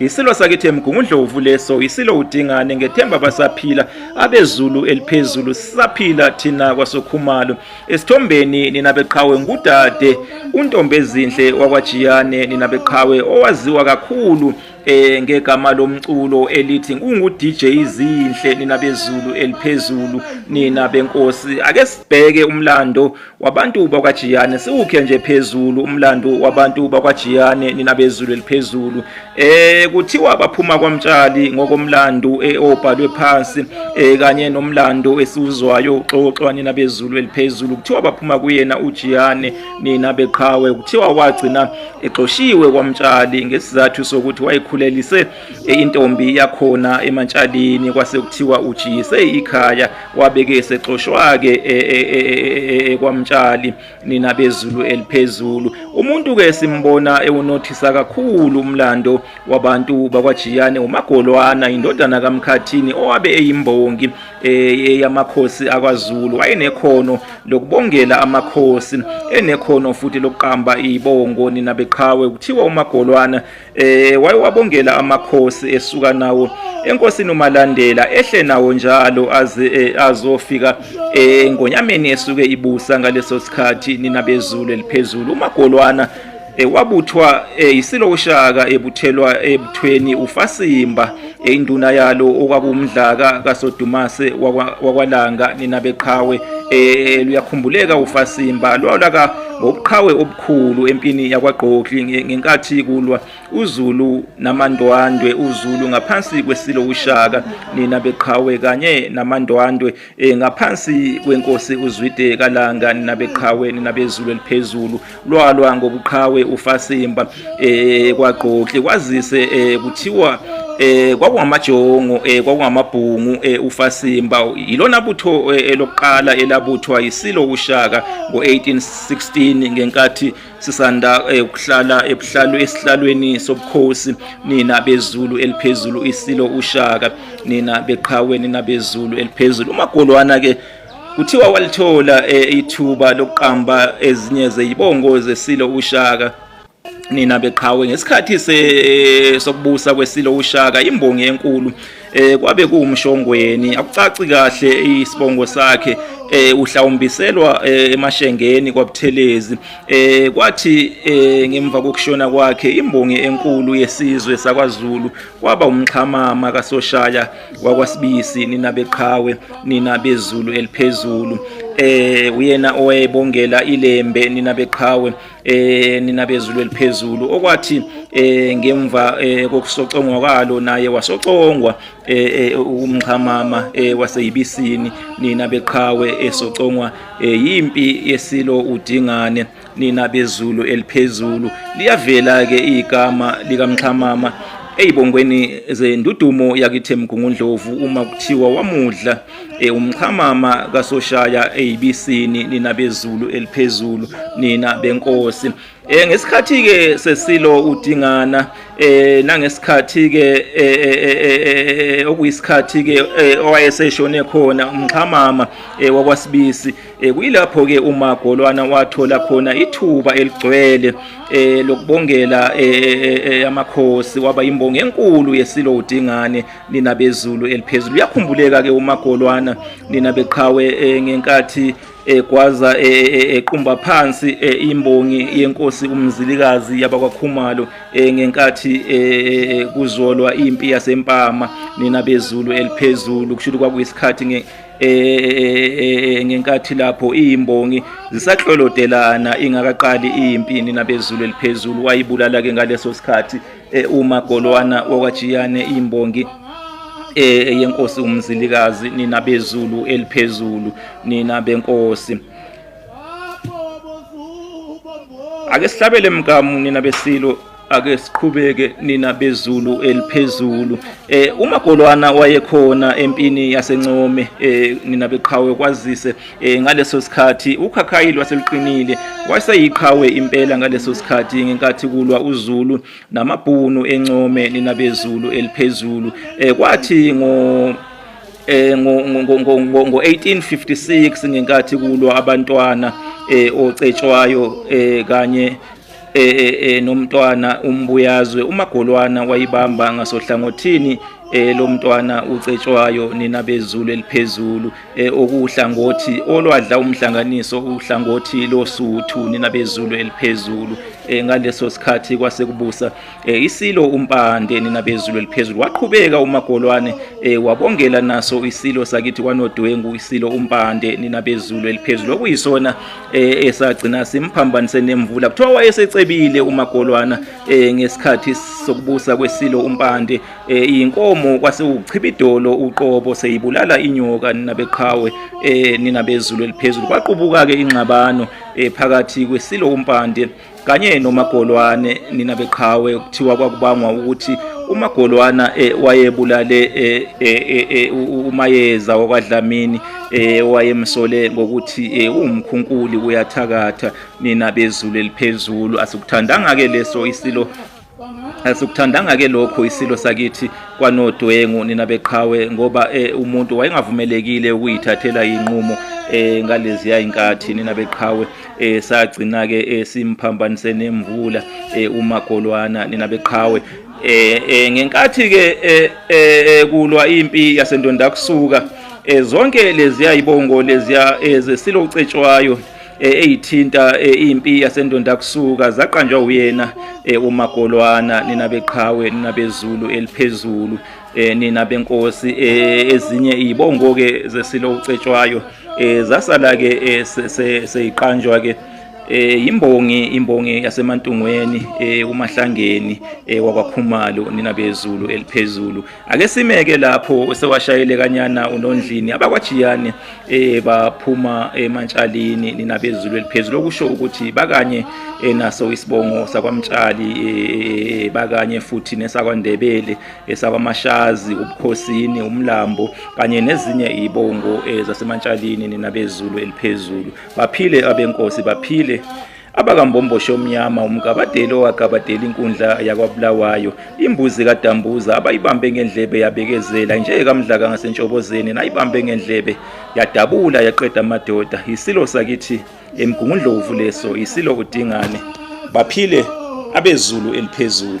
Yisilo sakithi eMgungundlovu leso, yisilo uDingane ngethemba basaphila abezulu eliphezulu sisaphila thina kwasokhumalo. Esithombeni nina beqhawe ngudade uNtombezinhle wakwaJiyane nina beqhawe owaziwa kakhulu eh ngegama lomculo elithi ungu DJ izinhle nina bezulu eliphezulu nina benkosi ake sibheke umlando wabantu bakwaJiyane siwukhe nje phezulu umlando wabantu bakwaJiyane nina bezulu eliphezulu eh kuthiwa baphuma kwamtshali ngokomlando eobhalwe eh, phansi eh kanye nomlando esiwuzwayo uxoxwa nina bezulu eliphezulu kuthiwa baphuma kuyena uJiyane nina beqhawe kuthiwa wagcina exoshiwe kwamtshali ngesizathu sokuthi wayekhulelise intombi yakhona emantshalini kwase kuthiwa ujise ikhaya wabeke esexoshwa-ke e, e, e, kwamtshali nina bezulu eliphezulu umuntu-ke simbona ewunothisa kakhulu umlando wabantu bakwajiyane umagolwana indodana kamkhathini owabe eyimbongi yamakhosi akwazulu wayenekhono lokubongela amakhosi enekhono futhi lokuqamba iy'bongo nina beqhawe kuthiwa umagolwana Eh wayewabongela amakhosi esuka nawo enkosini uMalandela ehle nawo njalo aze eh, azofika eh, engonyameni esuke ibusa ngaleso sikhathi nina bezulu eliphezulu uMagolwana eh, wabuthwa yisilo uShaka ebuthelwa ebuthweni uFasimba induna yalo okwakumdlaka kaSodumase wakwaLanga nina beqhawe luyakhumbuleka uFasimba lwalaka ngobuqhawe khulu empini yakwagqokli ngenkathi kulwa uzulu namandwandwe uzulu ngaphansi kwesilo ushaka nina beqhawe kanye namandwandwe eh, ngaphansi kwenkosi uzwide kalanga nina beqhawe nina bezulu eliphezulu lwalwa ngobuqhawe ufasimba eh, kwagqokli kwazise eh, kuthiwa eh kwakungamajongo eh kwakungamabhungu eh ufasimba yilona butho eh, elokuqala elabuthwa yisilo ushaka ngo 18 16 ngenkathi sisanda eh, ukuhlala ebuhlalu esihlalweni sobukhosi nina bezulu eliphezulu isilo ushaka nina beqhawe nina bezulu eliphezulu umagolwana ke kuthiwa walithola eh, ithuba lokuqamba ezinye zezibongo zesilo ushaka nina beqhawe ngesikhathi sokubusa kwesilo ushaka imbongi enkulu eh kwabe kuwumshongweni akucaci kahle isibongo sakhe eh uhlawumbiselwa eh, emashengeni kwabuthelezi eh kwathi eh, ngemva kokushona kwakhe imbongi enkulu yesizwe sakwaZulu kwaba umxhamama kasoshaya wakwasibisi nina beqhawe nina bezulu eliphezulu eh uyena owayebongela ilembe nina beqhawe eh nina bezulu eliphezulu okwathi eh ngemva eh, kokusocongwa kwalo naye wasocongwa eh, eh umxhamama eh, waseyibisini nina beqhawe esocongwa eh, yimpi yesilo udingane nina bezulu eliphezulu liyavela ke igama likamxhamama eyibongweni zendudumo yakithe mgungundlovu uma kuthiwa wamudla e umxhamama kasoshaya eyibisini nina bezulu eliphezulu nina benkosi eh ngesikhathi ke sesilo udingana eh nangesikhathi ke eh, eh, eh, okuyisikhathi ke owayeseshone khona umxhamama wakwasibisi kuyilapho ke uma golwana wathola khona ithuba eligcwele lokubongela amakhosi waba imbongi enkulu yesilo udingane nina bezulu eliphezulu uyakhumbuleka ke umagolwana nina beqhawe eh, ngenkathi egwaza eh, eh, equmba phansi imbongi yenkosi umzilikazi yabakwakhumalo ngenkathi kuzolwa impi yasempama nina bezulu eliphezulu kusho ukuthi kwakuyisikhathi ngenkathi lapho imbongi zisahlolodelana ingakaqali impi nina bezulu eliphezulu wayibulala ke ngaleso sikhathi e, umagolwana wakwaJiyane imbongi e, eyenkosi umzilikazi nina bezulu eliphezulu nina benkosi ake sihlabele mgamu nina besilo ake siqhubeke nina bezulu eliphezulu eh umagolwana wayekhona empini yasencome eh nina beqhawe kwazise E, ngaleso sikhathi ukhakhayi lwaseluqinile wayeseyiqhawe impela ngaleso sikhathi ngenkathi kulwa uZulu namabhunu encome ninabezulu eliphezulu e, kwathi ngo eh ngo-1856 ngenkathi kulwa abantwana eh ocetshwayo eh kanye eh, eh, eh nomntwana umbuyazwe umagolwana wayibamba ngasohlangothini eh lomntwana ucetshwayo nina bezulu eliphezulu e, okuwuhlangothi olwadla umhlanganiso uhlangothi losuthu nina bezulu eliphezulu e, ngaleso sikhathi kwasekubusa e, isilo umpande nina bezulu eliphezulu waqhubeka umagolwane wabongela naso isilo sakithi kwanodwengu isilo umpande nina bezulu eliphezulu okuyisona esagcina simphambanise nemvula kuthiwa wayesecebile umagolwana ngesikhathi sokubusa kwesilo umpande Eh, iyinkomo kwase uchibidolo uqobo seyibulala inyoka nina beqhawe eh, nina bezulu eliphezulu kwaqubuka ke ingxabano eh, phakathi kwesilo umpande kanye nomagolwane nina beqhawe kuthiwa kwakubangwa ukuthi umagolwana wayebulale umayeza wakwadlamini wayemsole ngokuthi uwumkhunkuli uyathakatha nina bezulu eliphezulu asikuthandanga ke leso isilo Asikuthandanga ke lokho isilo sakithi kwanodwengu nina beqhawe ngoba eh, umuntu wayengavumelekile ukuyithathela inqumo eh ngaleziya inkathi nina beqhawe eh sagcina ke eh, simphambanise nemvula eh, umagolwana nina beqhawe eh, eh ngenkathi ke kulwa impi yasendonda kusuka zonke leziya ibongo leziya ezesilo ucetshwayo eh, eyithinta eh, impi yasendonda kusuka zaqanjwa uyena eh, umagolwana nina beqhawe nina bezulu eliphezulu nina benkosi ezinye izibongo ke zesilo ucetshwayo zasala ke seyiqanjwa ke eh imbongi imbongi yasemantungweni eh umahlangeni eh wakwakhumalo nina bezulu eliphezulu Ake simeke lapho sewashayele kanyana unondlini abakwajiyane eh baphuma emantshalini ninabezulu eliphezulu okusho ukuthi bakanye eh, naso isibongo sakwamtshali eh, eh, bakanye futhi nesakwandebele esakwamashazi ubukhosini umlambo kanye nezinye izibongo zasemantshalini ninabezulu eliphezulu baphile abenkosi baphile abakambomboshi omnyama umgabadeli owagabadela inkundla yakwabulawayo imbuzi kadambuza abayibambe ngendlebe yabekezela injeye kamdlaka ngasentshobozeni nayibambe ngendlebe yadabula yaqeda amadoda yisilo sakithi emgungundlovu leso yisilo udingane baphile abezulu eliphezulu